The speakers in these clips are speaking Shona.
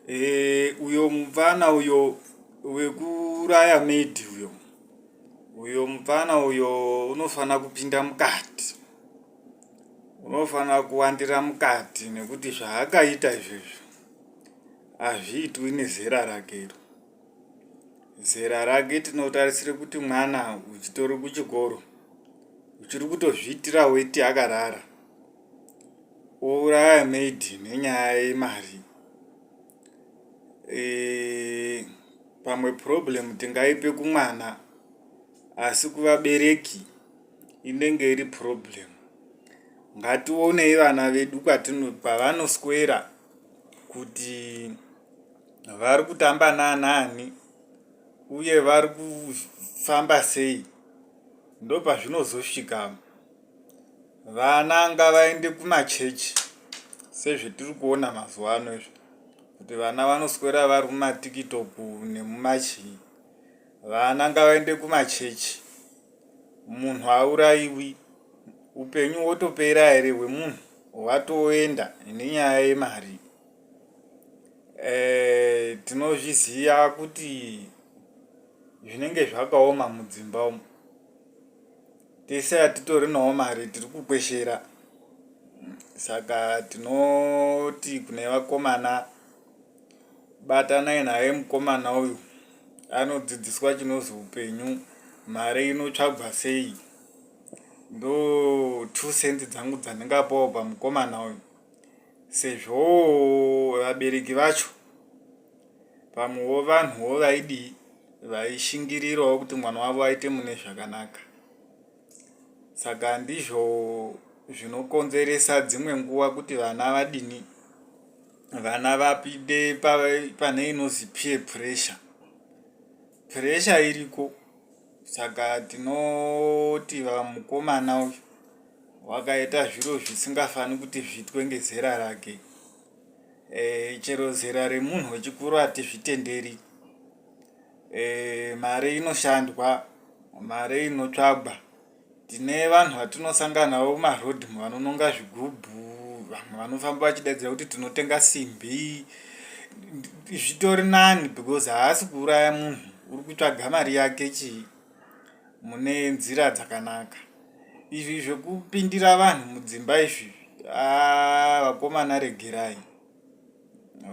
Eh, uyo mupfana uyo wekuuraya maid uyo uyo mupfana uyo unofanira kupinda mukati unofanira kuwandira mukati nekuti zvaakaita izvozvo hazviitwi nezera rake iro zera rake tinotarisira kuti mwana uchitori kuchikoro uchiri kutozviitira weti akarara Kuuraya maid nenyaya yemari eh, pamwe problem tingaipe kumwana asi kuvabereki inenge iri problem ngationei vana vedu kwavanoswera kuti vari kutamba naanani uye vari kufamba sei ndopazvinozosvika Vana ngavaende kumachechi sezvetiri kuona mazuva ano izvi kuti vana vanoswera vari mumatiktok nemumachii. Vana ngavaende kumachechi. Munhu hauraiwi. Upenyu hwotopera here hwemunhu hwatoenda nenyaya yemari. Eh, tinozviziva kuti zvinenge zvakaoma mudzimba umu. tese hatitorinawo mari tiri kukweshera saka tinoti kune vakomana batanai naye mukomana uyu anodzidziswa chinozi upenyu mari inotsvagwa sei ndo two cents dzangu dzandingapawo pamukomana uyu sezvo vabereki vacho Pamwewo vanhuwo vaidii vaishingirirawo kuti mwana wavo aite mune zvakanaka. Saka ndizvo zvinokonzeresa dzimwe nguva kuti vana vadini vana vapinde pane inozi peer pressure. Pressure iriko saka tinoti vamukomana uyu wakaita zviro zvisingafaniri kuti zviitwe ngezera rake. e, chero zera remunhu wechikuru hatizvitenderi e, mari inoshandwa mari inotsvagwa tine vanhu vatinosanganawo kumaroad vanononga zvigubhu vamwe vanofamba vachidaidzira kuti tinotenga simbi zvitori nani because haasi kuuraya munhu uri kutsvaga mari yake chii mune nzira dzakanaka izvi zvekupindira vanhu mudzimba izvi ah, vakomana regerai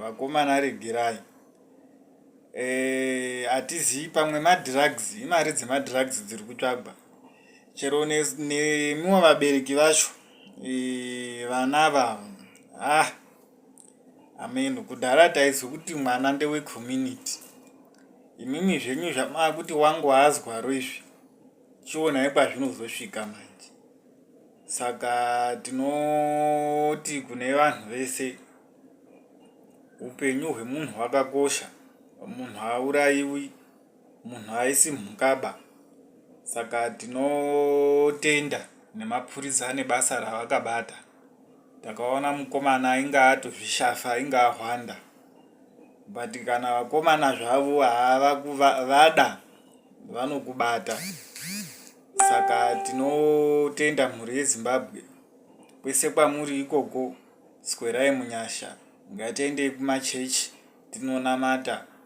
vakomana regerai eh, hatizivi pamwe madrugs imari dzemadrugs dziri kutsvagwa chero nemiwo vabereki vacho eh, vana vavo ah Amen. Kudhara taizwa kuti mwana ndewe community. Imimi zvenyu zvamava kuti wangu haazwaro izvi. Chionai kwazvinozosvika manje. Saka tinoti kune vanhu vese upenyu hwemunhu hwakakosha. Munhu hauraiwi, munhu haisi mhukaba. Saka tinotenda nemapurisa nebasa ravakabata. takaona mukomana ainge atozvishafa ainge ahwanda but kana vakomana zvavo vada vanokubata saka tinotenda mhuri yezimbabwe kwese kwamuri ikoko swerai munyasha ngatiendei kumachechi tinonamata